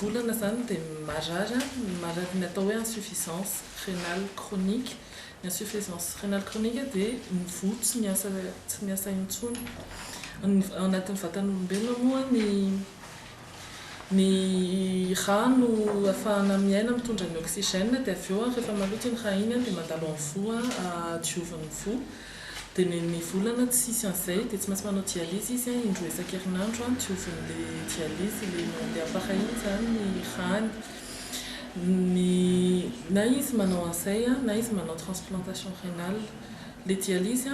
volana izany dia marary ny marary ny atao hoe insuffisance rénale chronique, ny insuffisance rénale chronique dia mivoa tsy miasa tsy miasa intsony, ao anatin'ny vatan'olombelona moa ny Ny ra no afahana miaina mitondra ny oxygène dia avy eo ary rehefa maloto iny ra iny dia mandalo amin'ny voa ahadioviny voa dia ny ny volana tsy hisy an'izay dia tsy maintsy manao dialyse izy indroa isan-kerinandro hadioviny ilay dialyse ilay mandeha afara iny izany ny rany ny na izy manao an'izay na izy manao transplantation rénale ilay dialyse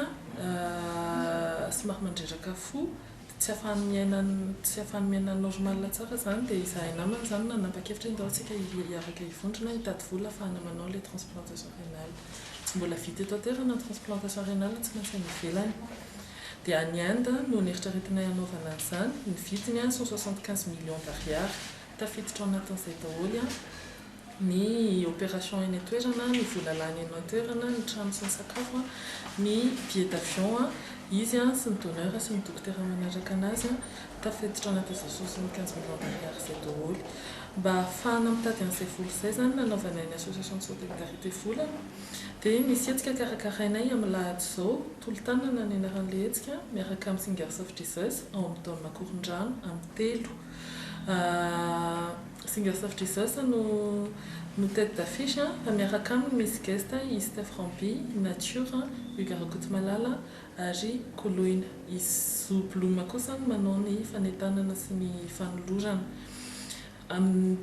somary mandreraka fo tsy afahany miaina tsy afahany miaina normal tsara zany dia izahay namany zany nanapa-kevitra hoe ndao tsika hiaraka hivondrona hitady vola afahana manao le transplantation rénale tsy mbola vita eto an-toerana ny transplantation rénale tsy maintsy any ivelany dia any Inde no neritreretinay hanaovana an'izany ny vidiny an cent soixante quinze millions d'ariary tafiditra ao anatin'izay daholo an ny opération eny an-toerana, ny vola lany eny an-toerana, ny trano sy ny sakafo, ny billet d'avion, izy sy ny donneur sy ny dokotera manaraka anazy, tafiditra anaty azoso sy ny quinze millions d'ariary izay daholo. Mba hahafahana mitady an'izay vola izay izany nanaovanay ny association de solidarité vola dia misy hetsika karakarainay amin'ny lahady izao, Tolo-tanana ny anaran'ilay hetsika, miaraka amin'ny Singers of Jesus ao amin'ny Dôn'Makorondrano amin'ny telo. Singers of Jesus no no tete d'affiche an, fa miaraka aminy misy guest i Steph Ramby, i Nature, Hugues Rakotomalala ary Koloina. I Zo Bloom kosa no manao ny fanentanana sy ny fanolorana. Amin'ny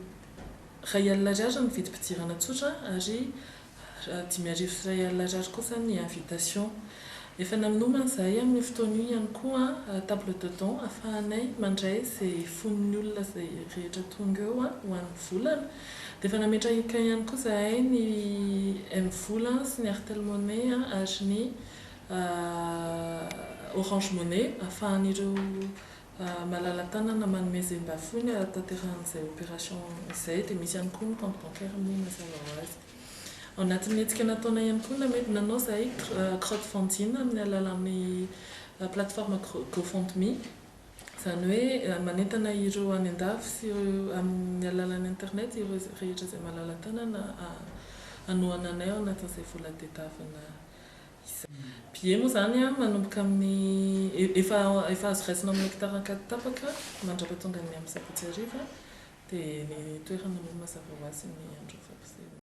iray alina ariary ny vidim-pidirana tsotra ary Dimy arivo sy iray alina Ariary kosa ny invitation. Efa nanomana izahay amin'io fotoana io ihany koa table de don afahanay mandray izay fon'ny olona izay rehetra tonga eo ho an'ny volana. Dia efa nametraka ihany koa izahay ny mvola sy ny Airtel Money ary ny Orange Money afahan'ireo Malala-tanana manome zembafony hahatanterahan'izay opération izay dia misy ihany koa ny compte bancaire moa mazava ho azy. Ao anatin'ny hetsika nataonay ihany koa namely nanao izahay crowdfunding amin'ny alalan'ny plateforme GoFundMe, izany hoe manentana ireo any an-dafy sy ireo amin'ny alalan'ny internet ireo rehetra izay malala-tanana hanohana anay ao anatin'izay vola tedavina. Billets moa izany manomboka amin'ny, efa efa azo raisina amin'ny hekitara an-katy tapaka mandrapatonga ny amin'ny sabotsy hariva dia ny toerana mino mazava ho azy ny andron'ny fampisehoana.